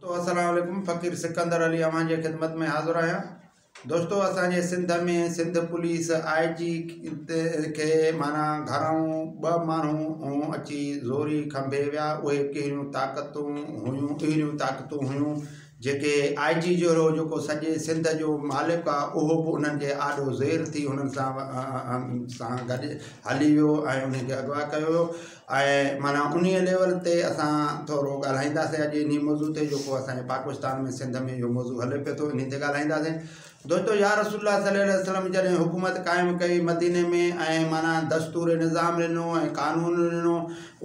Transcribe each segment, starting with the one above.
دوستو السلام عليڪم فقير سڪندر علي اوهان جي خدمت ۾ حاضر آهيان دوستو اسان جي سنڌ ۾ سنڌ پوليس آء جي کي معنيٰ گهرائون ٻه ماڻهو اچي زوري کنڀي ويا اهي ڪهڙيون طاقتون هيون اهڙيون طاقتون هيون جيڪي آء جي جهڙو جيڪو سڄي سنڌ جو مالڪ آهي اهو به انهن جي آڏو زير ٿي انهن سان سان گڏ هلي ويو ۽ انهن کي اغوا ڪيو ويو ۽ معنيٰ انهي ليول تي اسان ٿورو ڳالهائينداسين اڄ انهي موضوع تي جيڪو اسان جي پاڪستان ۾ سنڌ ۾ اهو موضوع هلي پيو ٿو انهي تي ڳالهائينداسين دوستو يا رسول الله صلي عليه وسلم جڏهن حڪومت قائم ڪئي مديني ۾ ۽ معنيٰ دستور نظام ڏنو ۽ قانون ڏنو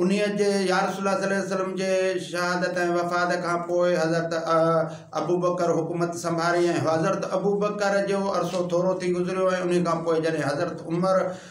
انهي جي يا رسول الله صلي عليه وسلم جي شهادت ۽ وفات کان پوء حضرت ابوبڪر حڪومت سنڀاري ۽ حضرت ابوبڪر جو عرصو ٿورو ٿي گذريو ۽ انهي کان پوء جڏهن حضرت عمر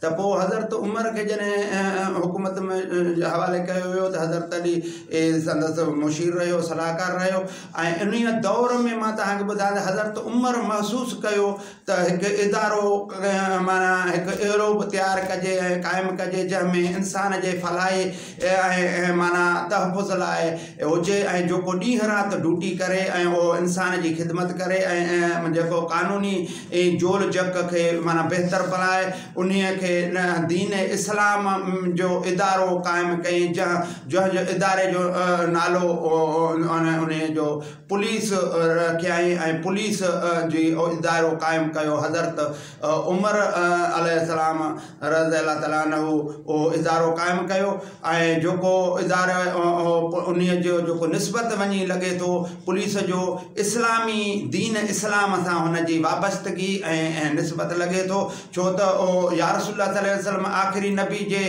ته پوء حضرت عمر کي جڏهن حڪومت جي حوالي ڪيو ويو ته حضرت علي سندس مشير رهيو صلاحڪار رهيو ۽ انهيء دور ۾ مان توهان کي ٻڌايان ته حضرت عمر محسوس ڪيو ته هڪ ادارو معنيٰ هڪ اهڙو به تيار ڪجي ۽ قائم ڪجي جنهن ۾ انسان جي فلاح اهي معنيٰ تحفظ لاء هجي ۽ جيڪو ڏينهن رات ڊوٽي ڪري ۽ اهو انسان جي خدمت ڪري ۽ جيڪو قانوني جول جڪ کي معنيٰ بهتر بڻائي انهي کي دين اسلام جو ادارو قائم ڪئين جنهن جنهن جو اداري جو نالو انهي جو پوليس رکيائين ۽ پوليس جي ادارو قائم ڪيو حضرت عمر عليه السلام رضه الله تعالٰي عنه اهو ادارو قائم ڪيو ۽ جيڪو ادارو انهيء جو جيڪو نسبت وڃي لڳي ٿو پوليس جو اسلامي دين اسلام سان هن جي وابستگي ۽ نسبت لڳي ٿو ڇو ته اهو يا رسول الله صلي وسلم آخري نبي جي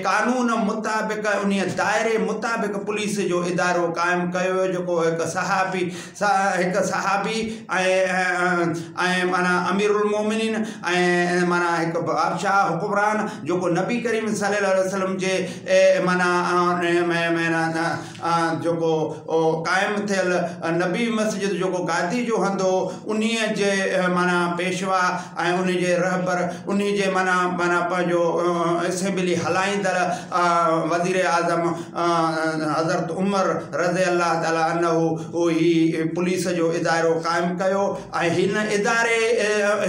قانون مطابق انهيء دائري مطابق پوليس جو ادارو قائم ڪيو ويو جيڪو هڪ صحافي هڪ صحابي ۽ معنيٰ امير المومنين ۽ معنيٰ هڪ بادشاهه حڪمران جيڪو نبي ڪريم صلي الله عليه وسلم جي معنيٰ جيڪو قائم ٿيل نبي مسجد جيڪو گادي جو هنڌ هو انهيء جي معنيٰ پيشوا ۽ ان جي رهبر انهيء جي معنيٰ معنيٰ پنهنجو اسيمبلي هلائيندڙ وزير اعظم حضرت عمر رضي الله تعالٰي عنه هي پوليس جو ادارو قائم ڪيو ۽ هن اداري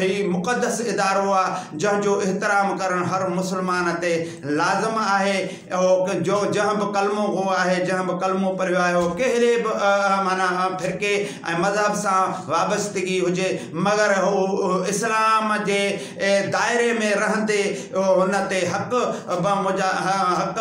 هي مقدس ادارو آ جنهن جو احترام ڪرڻ هر مسلمان تي لازم آهي اهو جو جنهن به ڪلمو گو آهي جنهن به ڪلمو پڙهيو آهي اهو ڪهڙي به معنيٰ فرقي ۽ مذهب سان وابستگي هجي مگر هو اسلام جي دائري ۾ رهندي هن تي حق حق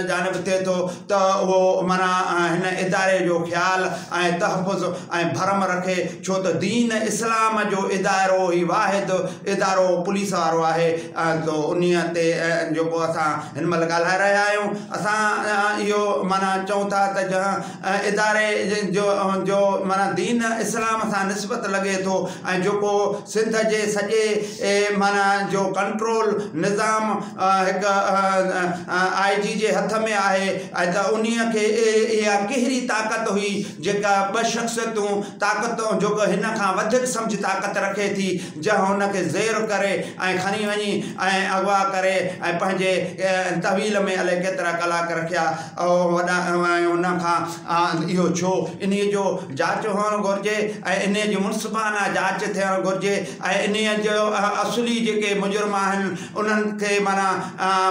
جانب ٿئي ٿو ته اهو معنيٰ هن اداري جو خيال ۽ تحفظ ۽ ڀرم رکي ڇو ته دين اسلام جو ادارو ئي واحد ادارو پوليس وارو آهي سو انهي تي جيڪو اسان هن مهل ڳالهائي رهيا آهيون اسان اهو معنيٰ چئون ٿا ته جنهن اداري جو جو معنيٰ دين اسلام سان نسبت لڳي ٿو ۽ جيڪو سنڌ جي سڄي معنيٰ جو ڪنٽرول نظام هڪ آئي جي جي هٿ ۾ آهي ۽ ته ان کي اها ڪهڙي طاقت هئي جيڪا ٻه شخصيتون طاقت جيڪو هن کان وڌيڪ سمجهه طاقت رکي ٿي جا هن کي زير ڪري ۽ کڻي وڃي ۽ اغوا ڪري ۽ پنهنجي تحويل ۾ الائي ڪيترا ڪلاڪ رکيا اهو وڏا ۽ ان کان اهو ڇو؟ انهيء جو جاچ هئڻ گهرجي ۽ انهيء جي منصفانه جاچ ٿيڻ گهرجي ۽ انهيء جو اصلي جيڪي مجرم آهن انهن کي معنيٰ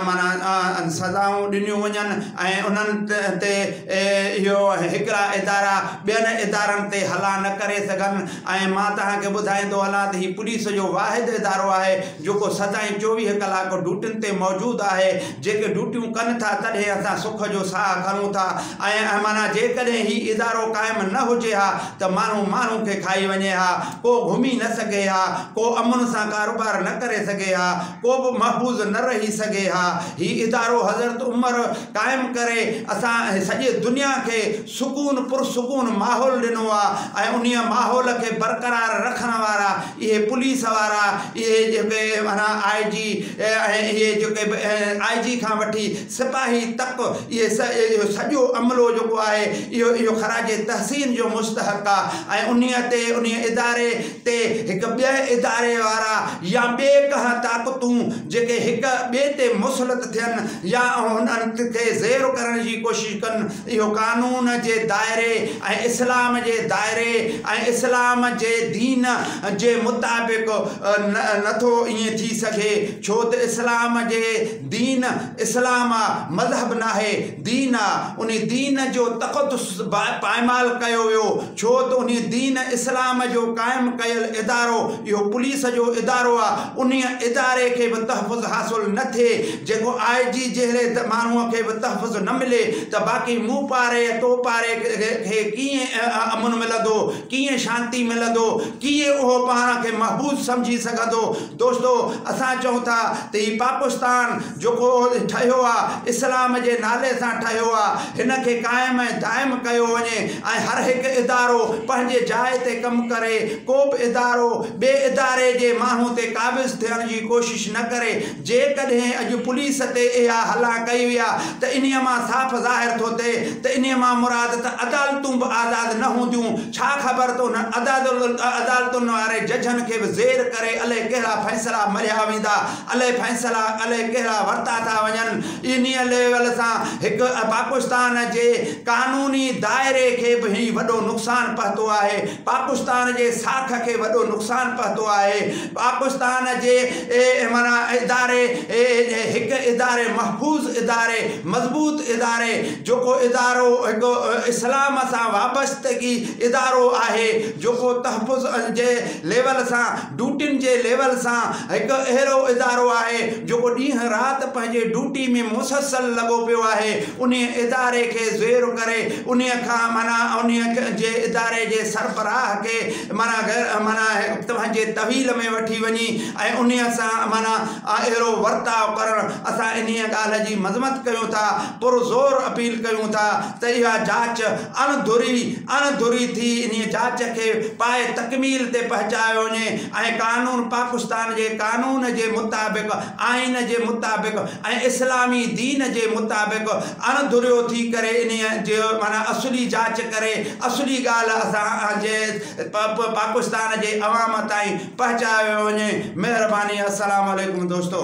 معنيٰ سزائون ڏنيون وڃن ۽ انهن تي اهو هڪڙا ادارا ٻين ادارن تي حلا نه ڪري سگهن ۽ مان توهان کي ٻڌائيندو هلان ته هي پوليس جو واحد ادارو آهي جيڪو سدائين چوويهه ڪلاڪ ڊيوٽين تي موجود آهي جيڪي ڊيوٽيون ڪن ٿا تڏهن اسان سک جو ساهه کڻون ٿا ۽ معنيٰ جيڪڏهن هي ادارو قائم نه هجي ها ته ماڻهو ماڻهو کي کائي وڃي ها ڪو گهمي نه سگهي ها ڪو امن سان ڪاروبار نه ڪري سگهي ها ڪو به محفوظ نه رهي سگهي ها هي ادارو حضرت عمر قائم ڪري اسان سڄي دنيا کي سڪون پرسڪون ماحول ڏنو آهي ۽ انهي ماحول کي برقرار رکڻ وارا اهي پوليس وارا اهي جيڪي معنيٰ آء جي ۽ اهي جيڪي به آء جي کان وٺي سپاهي تڪ اهي سڄ اهو سڄو عملو جيڪو آهي اهو اهو خراج تحسين جو مستحق آ ۽ انهي تي انهي اداري تي هڪ ٻئي اداري وارا يا ٻئي ڪنهن طاقتون جيڪي هڪ ٻئي تي مسلط ٿين يا هنن کي زيرو ڪرڻ جي ڪوشش ڪن اهو قانون جي دائري ۽ اسلام جي دائري ۽ اسلام جي دين جي مطابق نه ٿو ائين ٿي سگهي ڇو ته اسلام جي دين اسلام آ مذهب ناهي دين آ انهي دين جو تقدس پائمال ڪيو ويو ڇو ته انهي دين اسلام جو قائم ڪيل ادارو اهو پوليس جو ادارو آ انهي اداري کي به تحفظ حاصل نه ٿئي جيڪو آء جي جهڙي ماڻهوء کي به تحفظ نه ملي ته باقي مون پاري ۽ تو پاري کي ڪيئن امن ملندو، ڪيئن شانتي ملندو، ڪيئن اهو پاڻ کي محبوس سمجهي سگهندو؟ دوستو! اسان چئون ٿا ته هي پاڪستان جيڪو ٺهيو آ، اسلام جي نالي سان ٺهيو آ، هن کي قائم ۽ دائم ڪيو وڃي ۽ هر هڪ ادارو پنهنجي جاء تي ڪم ڪري، ڪوبه ادارو ٻئي اداري جي ماڻهو تي قابض ٿيڻ جي ڪوشش نه ڪري، جيڪڏهن اڄ پوليس تي اها هلا ڪئي ويا ته انهيء مان صاف ظاهر ٿو ٿئي ته انهيء مان مراد ته عدالتون به آزاد نه هونديون، ڇا خبر ته انهن عدالتن واري ججن کي به زير ڪري الئي ڪهڙا فيصلا مرهيا ويندا، الئي فيصلا الئي ڪهڙا ورتا ٿا وڃن. انهيء ليول سان هڪ پاڪستان جي قانوني دائري کي به هي وڏو نقصان پهتو آهي، پاڪستان جي ساک کي وڏو نقصان پهتو آهي، پاڪستان جي اداري هڪ اداري محفوظ اداري مضبوط اداري جيڪو ادارو هڪ اسلام سان وابستگي ادارو آهي جيڪو تحفظ جي ليول سان ڊوٽين جي ليول سان هڪ اهڙو ادارو آهي جيڪو ڏينهن رات پنهنجي ڊوٽي ۾ مسلسل لڳو پيو آهي انهي اداري کي زيرو ڪري انهي کان معنيٰ انهي جي اداري جي سربراهه کي معنيٰ غير معنيٰ آهي توهنجي طويل ۾ وٺي وڃي ۽ انهيء سان معنيٰ اهڙو ورتاء ڪرڻ اسان انهيء ڳالهه جي مذمت ڪيون ٿا پرزور اپيل ڪيون ٿا ته اها جاچ اڻ ڌري اڻ ڌري ٿي انهيء جاچ کي پائي تڪميل تي پهچايو وڃي ۽ قانون پاڪستان جي قانون جي مطابق آئين جي مطابق ۽ اسلامي دين جي مطابق اڻ ڌريو ٿي ڪري انهيء جي معنيٰ اصولي جاچ ڪري اصولي ڳالهه اسان جي پ پ پاڪستان جي عوام تائين پهچايو وڃي مهرباني السلام عليڪم دوستو.